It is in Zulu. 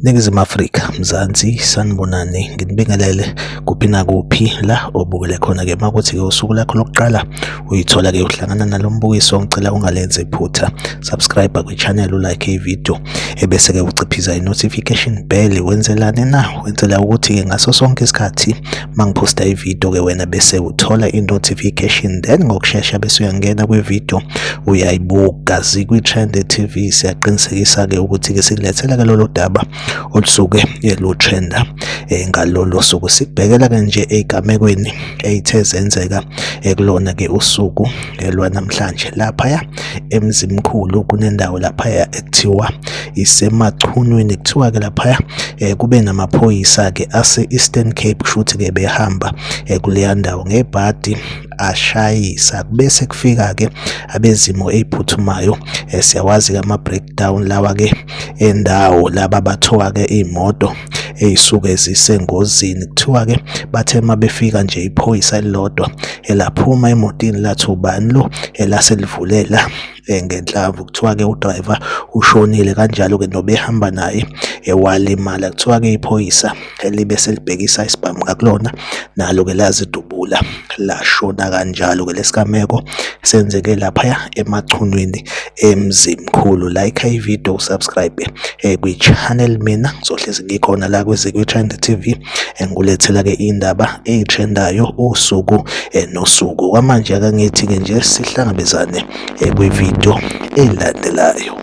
Ningizimu Afrika, Mzansi, sanibonani, nginibingelele kuphi nakuphi la obukele khona ke makuthi ke usuku lakho lokuqala uyithola ke uhlangana nalombukiso ngicela ungalenze iphutha subscribe kwi channel ulike i video ebese-ke uciphiza i-notification bell wenzelani na wenzela ukuthi-ke ngaso sonke isikhathi uma ngiphosta ividiyo-ke wena bese uthola i-notification then ngokushesha bese uyangena kwividiyo uyayibuka zikwi-trend tv siyaqinisekisa-ke ukuthi-ke sikulethela-ke lolo daba olusuke lutrenda um eh, ngalolo suku sikubhekela-ke nje ey'gamekweni ey'the zenzeka ekulona-ke usuku eh, lwanamhlanje laphaya emzimkhulu kunendawo laphaya ekuthiwa isemachunwini kuthiwa ke laphaya eh, kube namaphoyisa ke ase Eastern Cape kushuthi ke behamba eh, kuleya ndawo ngebhadi ashayisa bese kufika ke abezimo eziphuthumayo eh, siyawazi ke ama breakdown lawa ke endawo laba bathoka ke imoto eyisuke zisengozini kuthiwa ke bathe uma befika nje iphoyisa elilodwa elaphuma emotini lathi ubani lo elaselivulela eh, ngenhlamvu kuthiwa ke udriver ushonile kanjalo ke nobehamba naye ewalimala kuthiwa ke iphoyisa elibe selibhekisa isibhamu ngakulona nalo ke lazidubula lashona kanjalo ke lesigameko senzeke laphaya emachunwini emzimkhulu like i video subscribe eh, kwi channel mina ngizohlezi ngikhona la kwezikwi trend tv engulethela ke indaba ezitrendayo usuku eh, nosuku kwamanje akangithi ke nje sihlangabezane eh, kwi video elandelayo